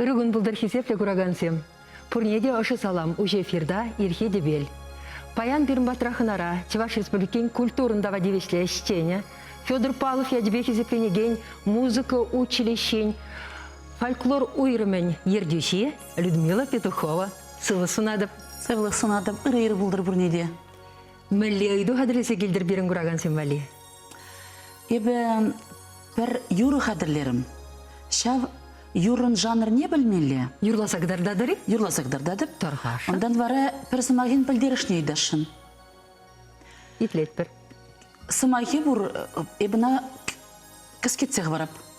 Ырӑ кун пултӑр хисеплӗ куракансем! Пурне те ӑшӑ салам, уҫӑ эфирта Ирхи тӗпел. Паян пирӗн патра хӑнара Чӑваш Республикин культурӑн тава тивӗҫлӗ ӗҫченӗ, Федор Палов ячӗпе хисепленекен музыка училищин фольклор уйрӑмӗн ертӳҫи Людмила Петухова сывлӑх сунатӑп. Сывлӑх сунатӑп, ырӑ-ырӑ пултӑр пурне те. Мӗнле ыйту хатӗрлесе килтӗр пирӗн куракансем валли? Эпӗ пӗр юрӑ хатӗрлерӗм. Ҫав юрӑн жанрне пӗлмелле. Юрласа кӑтартатӑр-и? Юрласа кӑтартатӑп. Тӑр-ха. Унтан вара пӗр сӑмахӗн пӗлтерӗшне ыйтасшӑн. Итлетпӗр. Сӑмахӗ пур, эпӗ ӑна кӗскетсе хӑварап.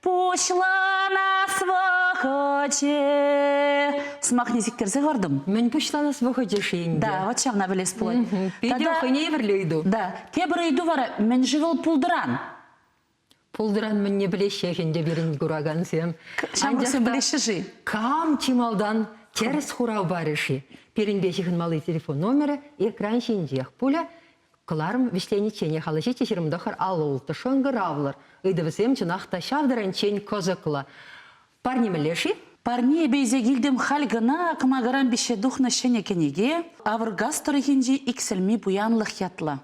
Пуҫланас вӑхӑчӗ. Сӑмахне сиктерсе хӑвартӑм. Мӗн пуҫланас вӑхӑчӗ-ши ӗнтӗ? Да, вот ҫавна пӗлес пулать. Питӗ хӑйне евӗрлӗ ыйту. Да, тепӗр ыйту вара, мӗн-ши вӑл пултӑран? Пултӑран мӗнне пӗлеҫҫех ӗнтӗ пирӗн куракансем. Ҫамрӑксем пӗлеҫҫӗ-ши? Кам чи малтан тӗрӗс хурав парӗ-ши? Пирӗнпе ҫыхӑнмалли телефон номерӗ экран ҫинчех пулӗ. Кӑларӑм вӗҫленичченех алӑ ҫиччӗ ҫирӗм тӑхӑр алӑ-ултӑ шӑнкӑравлӑр ыйтӑвӗсем чӑнах та ҫав тӗрӗнччен кӑсӑклӑ. Парне мӗнле-ши? Парне эпӗ илсе килтӗм халь кӑна кӑмакаран пиҫсе тухнӑ ҫӗнӗ кӗнеке Авӑркас тӑрӑхӗнчи иксӗлми пуянлӑх ятлӑ.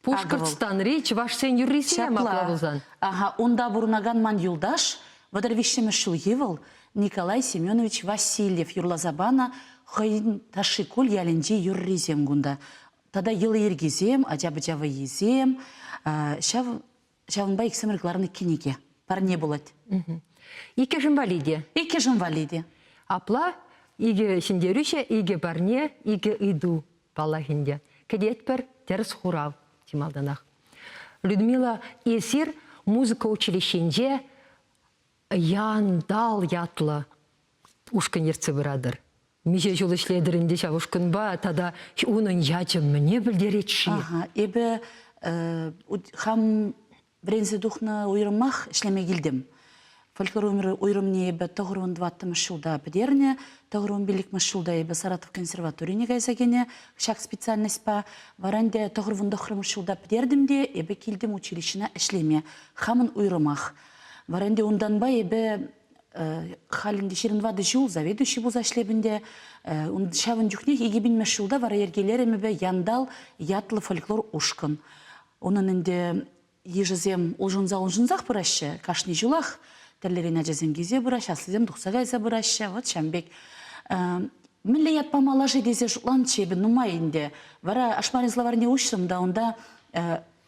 Пушкӑртстанри чӑвашсен юррисем апла пулсан. Аха, унта пурӑнакан ман юлташ, вӑтӑр виҫҫӗмӗш ҫулхи вӑл, Николай Семенович Васильев юрласа панӑ хӑйӗн Ташшикуль ялӗнчи юррисем кунта. Тата йӑли-йӗркисем, ача-пӑча вӑййисем, ҫав, ҫавӑнпа иксӗмӗр кӑларнӑ кӗнеке. Парне пулать. Иккӗшӗн вали те. Иккӗшӗн вали те. Апла икӗ ҫӗнтерӳҫӗ икӗ парне, икӗ ыйту, паллах ӗнтӗ, кӗтетпӗр. Тӗрӗс хурав чи малтанах. Людмила, эсир музыка училищинче Яндал ятлӑ ушкӑн ертсе пыратӑр. Миҫе ҫул ӗҫлетӗр ӗнтӗ ҫав ушкӑнпа тата унӑн ячӗ мӗне пӗлтерет-ши? Ага, эпӗ э, хам вӗренсе тухнӑ уйрӑмах ӗҫлеме килтӗм. Фольклор умри уйрӑмне эпӗ тӑхӑрвун тӑваттӑмӗш ҫулта пӗтернӗ. Тӑхӑрвун пиллӗкмӗш ҫулта эпӗ Саратов консерваторине кайса кӗнӗ ҫак специальноҫпа. Вара ӗнтӗ тӑхӑрвун тӑхрӑмӗш ҫулта пӗтертӗм те эпӗ килтӗм училищӗна ӗҫлеме. Хамӑн уйрӑмах Вара ӗнтӗ унтанпа эпӗ халь ӗнтӗ ҫирӗн ватӑ ҫул заведующий пулса ӗҫлеп ӗнтӗ. Ҫавӑн чухнех икӗ пинмеш ҫулта вара йӗркелерӗм эпӗ Яндал ятлӑ фольклор ушкӑн. Унӑн ӗнтӗ йышӗсем улшӑнса-улшӑнсах пыраҫҫӗ. Кашни ҫулах тӗрлӗрен ачасем килсе пыраҫҫӗ, аслисем тухса кайса пыраҫҫӗ. Вот ҫавӑн пек. Мӗнле ятпа малаши тесе шутланчӗ эпӗ нумай ӗнтӗ. Вара Ашмарин словарьне уҫрӑм та унта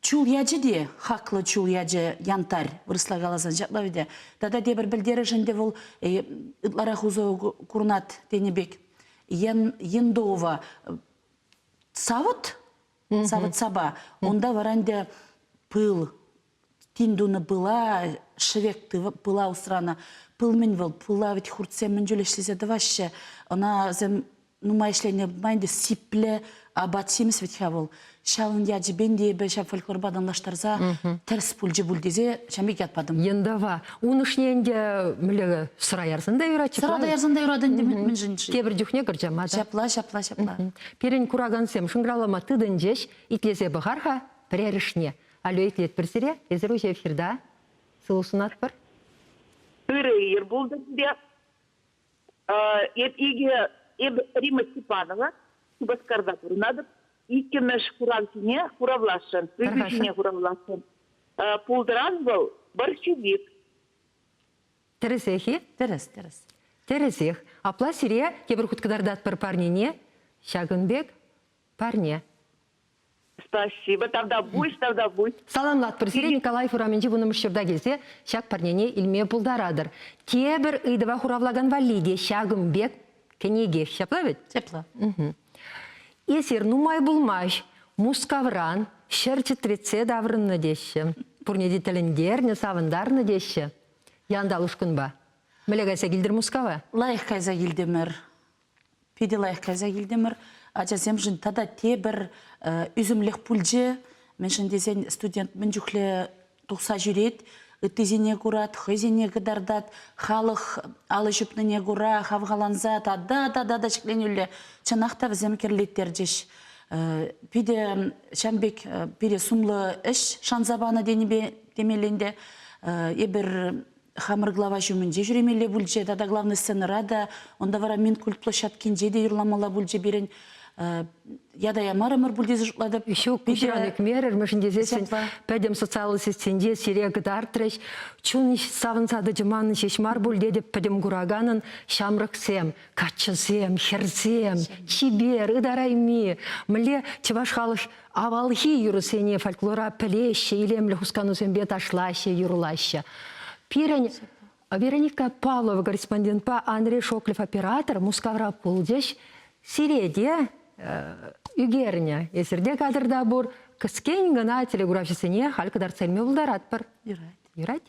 Чул ячӗ те, хаклӑ чул ячӗ, янтарь, вырӑсла каласан ҫапла вӗт е. Тата тепӗр пӗлтерӗш ӗнтӗ вӑл э, ытларах усӑ курнат тенӗ пек ендова савӑт, савӑт-сапа, унта вара ӗнтӗ пыл, тин тунӑ пыла, шӗвек пыла усранӑ. Пыл мӗн вӑл? Пыла вӗт хуртсем мӗн чуль ӗҫлесе тӑваҫҫӗ. Ӑна вӗсем нумай ӗҫленине пыман ӗнтӗ сиплӗ апат-ҫимӗс вӗт-ха вӑл. Ҫавӑн ячӗпен те эпӗ ҫав фольклорпа танлаштарса тӗрӗс пулчӗ пуль тесе ҫam пек ятпатӑм. Ентава ун ӑшне ӗнтӗ мӗнле сӑра ярсан та юрать-и? Сӑра та ярсан та юрать ӗнтӗ мӗншӗн-ши? Тепӗр чухне кӗрчӗ мата. Ҫапла, ҫапла, ҫапла. Пирӗн куракансем шӑнкӑравлама тытӑнчӗҫ. Итлесе пӑхар-ха пӗрерӗшне. Алло, итлетпӗр сире. Эсир уҫӑ эфирта сывӑ сунатпӑр. Ырӑ ир пултӑр сире. Эп икӗ, эпӗ Рима Степанова Шупашкарта пурӑнатӑп. Иккӗмӗш хуравсене хуравласшӑн, ыйту ҫине хуравласшӑн. Пултӑран вӑл борщевик. Тӗрӗсех-и? Тӗрӗс, тӗрӗс. Тӗрӗсех. Апла сире тепӗр хут кӑтартатпӑр парнене, ҫакӑн пек парне. Спасибо, тавта пуҫ, тавта пуҫ. Саламлатпӑр сире Николаев урамӗнчи вуннӑмӗш ҫурта килсе ҫак парнене илме пултаратӑр. Тепӗр ыйтӑва хуравлакан валли те ҫакӑн пек кӗнеке ҫапла вӗт? Ҫапла. Эсир нумай пулмасть Мускавран ҫӗр чӗтретсе таврӑннӑ теҫҫӗ. Пурне те тӗлӗнтернӗ, савӑнтарнӑ теҫҫӗ. Янтал ушкӑнпа. Мӗнле кайса килтӗр Мускава? Лайӑх кайса килтӗмӗр. Питӗ лайӑх кайса килтӗмӗр. Ачасемшӗн тата тепӗр ӳсӗмлӗх пулчӗ. Мӗншӗн тесен студент мӗн чухлӗ тухса ҫӳрет, ыттисене курать, хӑйсене кӑтартать, халӑх алӑ ҫупнине кура хавхаланса тата-тата та ҫӗкленӳлле чӑнах та вӗсем кӗрлеттерчӗҫ. Питӗ ҫавӑн пек пире сумлӑ ӗҫ шанса панӑ тенипе темелле ӗнтӗ. Эпир хамӑр глава ҫумӗнче ҫӳремелле пулчӗ тата главный сценӑра та, унта вара Минкульт площадкинче те юрламалла пулчӗ пирӗн. Ята ямарӑмӑр пуль тесе шутлатӑп. Ҫук, Петя мерӗмӗшӗн тесессӗн пӗтӗм социаллӑ сетьсенче сире кӑтартрӗҫ. Чун савӑнса тӑчӗ манӑн ҫеҫ мар пуль тетӗп пӗтӗм кураканӑн ҫамрӑксем, каччӑсем, хӗрсем, чипер, ытарайми. Мӗнле чӑваш халӑх Авалхи юрӑсене фольклора пӗлеҫҫӗ, илемлӗ хусканусемпе ташлаҫҫӗ, юрлаҫҫӗ. Пирӗн Вероника Павлова корреспондентпа Андрей Шоклев оператор Мускавра пулчӗҫ. Сире те ӳкернӗ, эсирте кадрта пур кӗскен гына телеграфҫӑсене халь кӑтартса илме пултаратпӑр. Юрать. Юрать.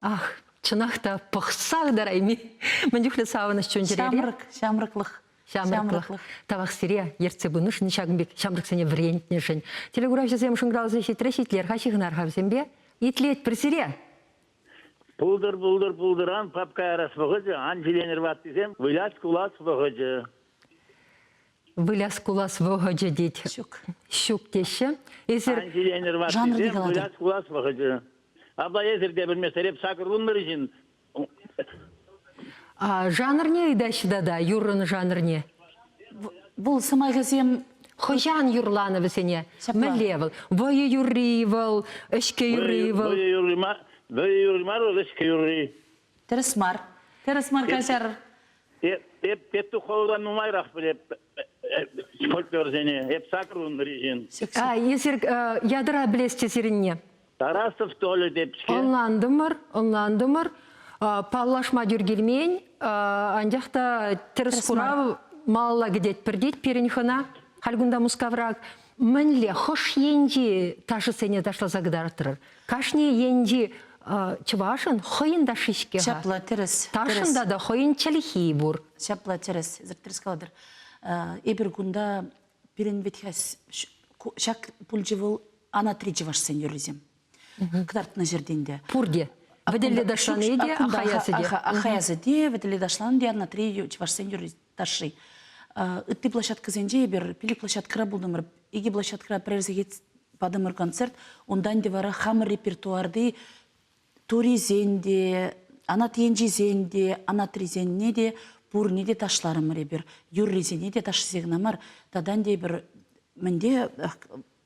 Ах, чӑнах та пӑхса ытарайми. Мӗн чухлӗ савӑнӑҫ чун-чӗрере. Ҫамрӑк, ҫамрӑклӑх. Ҫамрӑклӑх. Тавах сире, ертсе пынӑшӑн, ҫакӑн пек ҫамрӑксене вӗрентнӗшӗн. Телекуравҫӑсем шӑнкӑравсем ҫитрӗҫ, итлер-ха, ҫыхӑнар-ха вӗсемпе. Итлетпӗр сире. Пултӑр, пултӑр, пултӑран папка ярас вӑхӑчӗ, ан ҫиленӗр ваттисем, вылять-кулать вӑхӑчӗ. Выляс-кулас вӑхӑчӗ тет. Ҫук. Ҫук теҫҫӗ. Эсир жанрти калатӑр. Выляс-кулас вӑхӑчӗ. Апла эсир те белмесӗр эп сакӑрлунмӑр ҫын. А жанрне ыйтаҫҫӗ тата, юррӑн жанрне. Вӑл сӑмахӗсем Хӑҫан юрланӑ вӗсене? Мӗнле вӑл? Вӑйӑ юрри вӑл, ӗҫке юрри вӑл. Вӑйӑ юрри мар, вӑйӑ юрри мар вӑл, ӗҫке юрри. Тӗрӗс мар. Тӗрӗс мар каҫар. Петтух хӑвӑран нумайрах пӗлеп фольклорсене. Эп сакӑр унри ҫын. А эсир ядра пӗлес те сирӗнне. Тарасов Толя тет-ҫке. Ӑнлантӑмӑр, ӑнлантӑмӑр. Паллашма тӳр килмен, анчах та тӗрӗс хурав малалла кӗтетпӗр, тет пирӗн хӑна. Халь кунта Мускаврах. Мӗнле хӑш енчи ташӑсене ташласа кӑтартрӑр? Кашни енчи чӑвашӑн хӑйӗн ташши-ҫке-ха. Ҫапла, тӗрӗс. Ташӑнта та хӑйӗн чӗлхи пур. Ҫапла, тӗрӗс. Тӗрӗс калатӑр. Эпир кунта пирӗн вӗт-ха ҫак пулчӗ вӑл, анатри чӑвашсен юррисем. кӑтартнӑ ҫӗртен те. Пурте. Вӗтелле ташлани те, Ахаясӗ те, вӗтелле ташланӑ те Анатри чӑвашсен юрри ташши. Ытти площадкӑсенче эпир пилӗк площадкӑра пултӑмӑр, икӗ площадкӑра пӗрер сехет патӑмӑр концерт. Унтан те вара хамӑр репертуарти турисен те, анат енчисен те, анатрисенне те, пурне те ташларӑмӑр эпир. Юррисене те ташшисене кӑна мар, татан те эпир мӗнте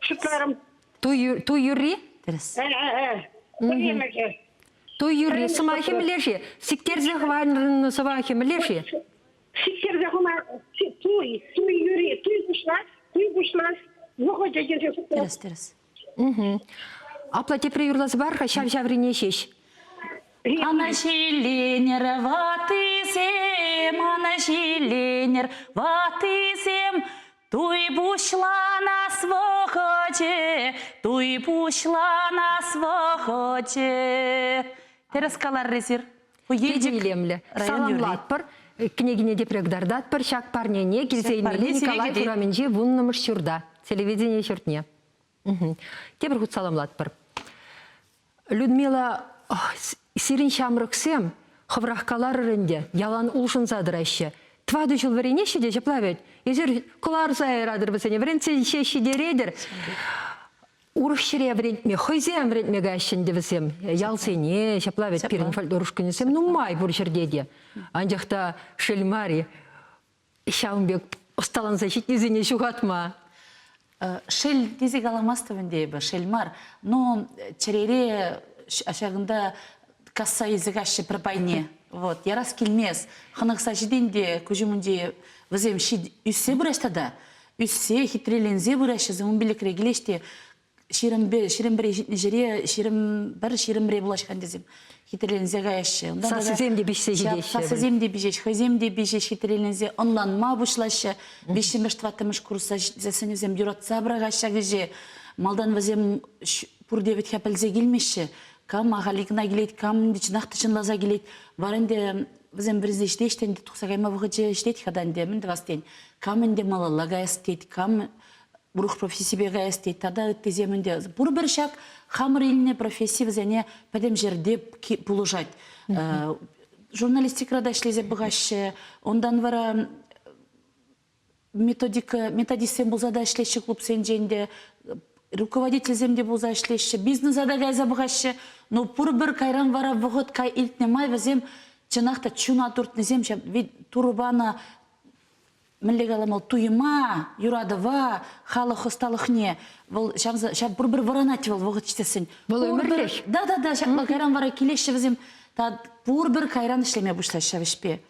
Шутларӑм. Туй юрри? Туй юрри сӑмахӗ мӗнле-ши? Сиктерсе хӑварнӑ сӑмахӗ мӗнле-ши? Сиктерсе хӑвар туй, туй юрри, туй пуҫлас, туй пуҫлас вӑхӑчӗ тесе шутлать. Тӗрӗс, тӗрӗс. Апла тепре юрласа пар-ха ҫав-ҫаврине ҫеҫ. Anaҫiленӗр ваттисем, anaҫiленӗр ваттисем, Туй пуҫланас вӑхӑчӗ, туй пуҫланас вӑхӑчӗ. Тӗрӗс каларрисӗр. Ку Питӗ илемлӗ. Саламлатпӑр. Кӗнекине те предгардатпӑр ҫак парнене килсе илмелли Николаев урамӗнчи вуннӑмӗш ҫурта, телевидени ҫуртне. Тепӗр хут саламлатпӑр. Людмила, сирӗн ҫамрӑксем хӑврах каларӑр ӗнтӗ, ялан улшӑнса тӑраҫҫӗ. Тӑватӑ ҫул вӗренеҫҫӗ те ҫапла вӗт. Эсир кӑларса яратӑр вӗсене, вӗрентсе ҫеҫ ҫитеретӗр. Урӑх ҫӗре вӗрентме, хӑйсем вӗрентме каҫҫӗ ӗнтӗ вӗсем. Ялсене, ҫапла вӗт, пирӗн фольклор ушкӑнӗсем нумай пур ҫӗрте те. Анчах та шел мар-и, ҫавӑн пек ӑсталанса ҫитнисене ҫухатма. Шел тесе каламастӑп ӗнтӗ эпӗ, шел мар, но чӗрере ҫакӑнта касса илсе каҫҫӗ пӗр пайне. Вот, ярас килмест. Хӑнӑхса ҫитен те куҫ умӗнче вӗсем ӳссе пыраҫ тата. Ӳссе, хитреленсе пыраҫҫӗ, ун пилӗкре килеҫ те ҫирӗмпе ҫирӗмре ҫитнӗ ҫӗре ҫирӗм пӗр ҫирӗмре пулаҫхан тесем хитреленсе каяҫҫӗ. Унта сассисем те пиҫсе ҫитеҫҫӗ. Сассисем те пиҫеҫ, хӑйсем те пиҫеҫ хитреленсе ӑнланма пуҫлаҫҫӗ. Виҫҫӗмӗш, тӑваттӑмӗш курсра ҫитсе сӗнӳсем юратса пӑрахаҫҫӗ ҫак ӗҫе. Малтан вӗсем пурте вӗтха пӗлсе килмеҫҫӗ. Кам ахаль кӑна килет, кам чӑнах та чӑнласа килет. Вара ӗнтӗ вӗсем вӗренсе ӗҫлеҫ те ӗнтӗ тухса кайма вӑхӑчӗ ҫитет-ха та ӗнтӗ. Мӗн тӑвас тен, кам ӗнтӗ малалла каяс тет, кам урӑх профессипе каяс тет тата ыттисем ӗнтӗ пурпӗр ҫак хамӑр илнӗ професси вӗсене пӗтӗм ҫӗрте пулӑшать журналистикӑра та ӗҫлесе пӑхаҫҫӗ унтан вара методика методистсем пулса та ӗҫлеҫҫӗ клубсенчен те руководительсем те пулса ӗҫлеҫҫӗ бизнеса та кайса пӑхаҫҫӗ но пурпӗр кайран вара вӑхӑт илтнӗ май вӗсем чӑнах та чуна туртнисем ҫав ведь турӑ панӑ мӗнле калам, вӑл туйӑма, юратӑва, халӑх ӑсталӑхне, вӑл ҫав, ҫав пурпӗр вӑранать вӑл вӑхӑт ҫитессӗн. Вӑл ӗмӗрлӗх. Да, да, да, ҫакна кайран вара килеҫҫӗ вӗсем. Пурпӗр кайран ӗҫлеме пуҫлаҫҫӗ ҫав ӗҫпе.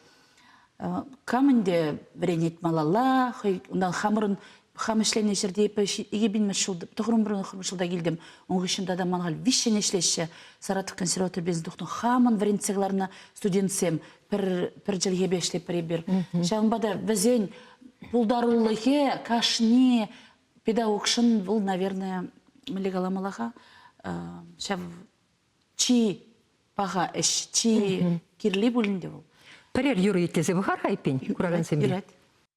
Кам ӗнтӗ вӗренет малалла, хӑй унтан хамӑрӑн хам ӗҫленӗ ҫӗрте эпӗ икӗ пин мӗш ҫул, тӑхрӑмрӑн хӑрмӑш ҫулта килтӗм. Ун хыҫҫӑн тата ман халь виҫҫӗн ӗҫлеҫҫӗ. Саратов консерватори бизнес тухнӑ хамӑн вӗрентсе кӑларнӑ студентсем пӗр пӗр чӗлхепе ӗҫлетпӗр эпир. Ҫавӑнпа та вӗсен пултарулӑхӗ кашни педагогшӑн вӑл, наверное, мӗнле каламалла-ха, ҫав чи паха ӗҫ, чи кирли пулин те вӑл. Пӗрер юрӑ итлесе пӑхар-ха эппин, куракансем. Юрать.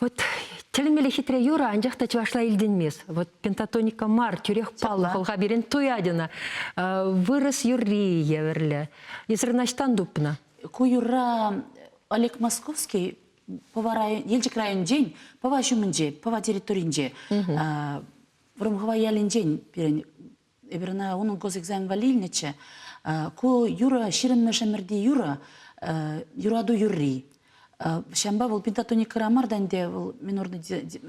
Вот тӗлӗнмелле хитре юрӑ, анчах та чӑвашла илтӗнмест. Вот пентатоника мар, тӳрех паллӑ хӑлха пирӗн туятина. Вырӑс юрри евӗрлӗ. Эсир наҫтан тупнӑ. Ку юрра Олег Московский Пӑва район, Елчӗк районӗнчен Пӑва ҫумӗнче, Пӑва территорийӗнче, Вӑрӑмхӑва ялӗнчен пирӗн эпир ӑна унӑн госэкзамен валли илнӗччӗ. Ку юрӑ ҫирӗммӗш ӗмӗрти юрӑ, юрату юрри. Ҫампа вӑл пентатоникӑра мар та ӗнтӗ, вӑл минорный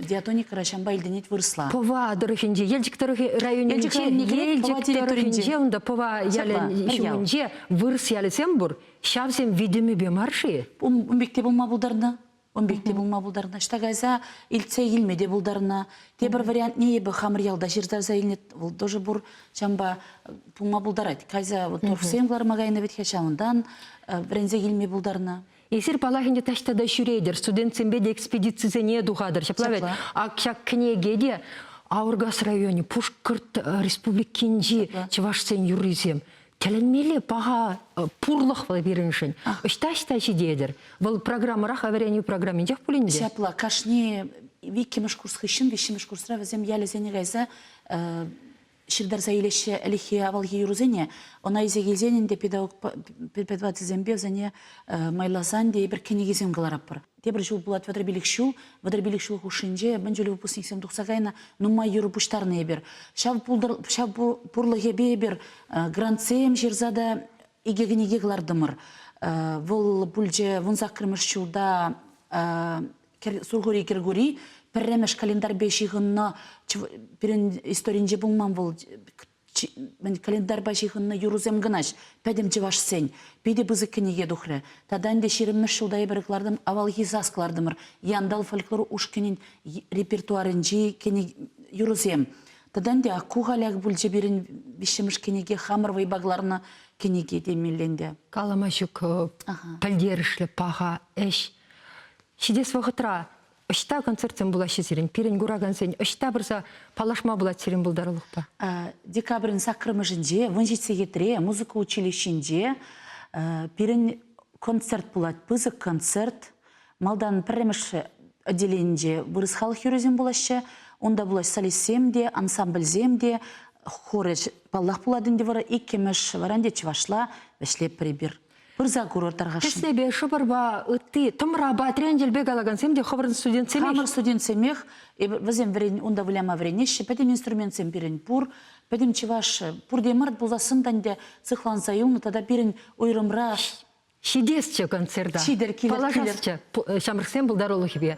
диатоникӑра ҫампа илтӗнет вырӑсла. Пӑва тӑрӑхӗнче, Елчӗк тӑрӑхӗ районӗнче, Елчӗк территорийӗнче, унта Пӑва ялӗн ҫумӗнче вырӑс ялӗсем пур. Ҫавсем витӗмӗпе мар-ши? Ун пекки пулма пултарнӑ. Ун пекки пулма пултарнӑ. Ӑҫта кайса илтсе илме те пултарнӑ. Тепӗр вариантне эпӗ хамӑр ялта ҫыртарса илнӗ. Вӑл тоже пур. Ҫавӑнпа пулма пултарать. Кайса вот торфсем кӑларма кайнӑ вӗт-ха ҫавӑнтан вӗренсе илме пултарнӑ. Эсир паллах ӗнтӗ таҫта та ҫӳретӗр, студентсемпе те экспедицисене тухатӑр. Ҫапла вӗт. Ак ҫак кӗнеке те Аургас районӗ, Пушкӑрт Республикинчи чӑвашсен юррисем. Тӗлӗнмелле паха э, пурлӑхлӑ пирӗншӗн. Ӑҫта-ӑҫта ҫитетӗр? Вӑл программӑрах вӗренӳ программинчех пулин те. Ҫапла, кашни иккӗмӗш курс хыҫҫӑн виҫҫӗмӗш курсра вӗсем ялӗсене кайса э, ҫыртарса илеҫҫӗ ӗлӗкхи авалхи юрӑсене. Ӑна илсе килсен ӗнтӗ педагог преподавательсемпе вӗсене э, майласан тейӗпӗр кӗнекесем кӑларатпӑр. тепӗр ҫул пулать вӑтӑрпиллӗх ҫул вӑтӑрпиллӗх ҫул хушшинче мӗн чулӗ выпускниксем тухса кайнӑ нумай юрӑ пуҫтарнӑ эпир ҫав пултӑр ҫав пурлӑхӗпе эпир грантсем ҫырса та икӗ кӗнеке кӑлартӑмӑр вӑл пулчӗ вун саккӑрмӗш ҫулта сурхури кӗркури пӗрремӗш календарьпе ҫыхӑннӑ пирӗн историнче пулман вӑл мӗн календарьпа ҫыхӑннӑ юрӑсем кӑна пӗтӗм чӑвашсен питӗ пысӑк кӗнеке тухрӗ тата ӗнтӗ ҫирӗммӗш ҫулта эпир кӑлартӑм авалхи сас кӑлартӑмӑр янтал фольклор ушкӑнӗн репертуарӗнчи кӗне юрӑсем тата ӗнтӗ ку халях пулчӗ пирӗн виҫҫӗмӗш кӗнеке хамӑр вӑйпа кӑларнӑ кӗнеке темелле ӗнтӗ калама ҫук пӗлтерӗшлӗ паха ӗҫ ҫитес вӑхӑтра ӑҫта концертсем пулаҫҫӗ сирӗн? Пирӗн куракансен ӑҫта пырса паллашма пулать сирӗн пултарулӑхпа? Декабрӗн саккӑрмӗшӗнче вун ҫичӗ сехетре музыка училищинче пирӗн концерт пулать. Пысӑк концерт. Малтан пӗрремӗш отделенинче вырӑс халӑх юррисем пулаҫҫӗ. Унта пулаҫ солистсем те, ансамбльсем те, хорӗ паллах пулать ӗнтӗ вара иккӗмӗш, вара ӗнтӗ чӑвашла вӗҫлеп пӗр эпир. пырса курӑр тӑрхӑшшӑн. Тӗслепе, шӑпӑрпа, ытти, тӑмрапа, тренчӗлпе калакансем те хӑвӑрӑн студентсемех. Хамӑр студентсемех, вӗсем вӗрен, унта выляма вӗренеҫҫӗ, пӗтӗм инструментсем пирӗн пур. Пӗтӗм чӑваш пурте мӑрт пулсассӑн та ӗнтӗ сыхланса юлнӑ тата пирӗн уйрӑмра ҫитесчӗ концерта. Ҫитӗр, килӗр, килӗр. Ҫамрӑксен пултарулӑхӗпе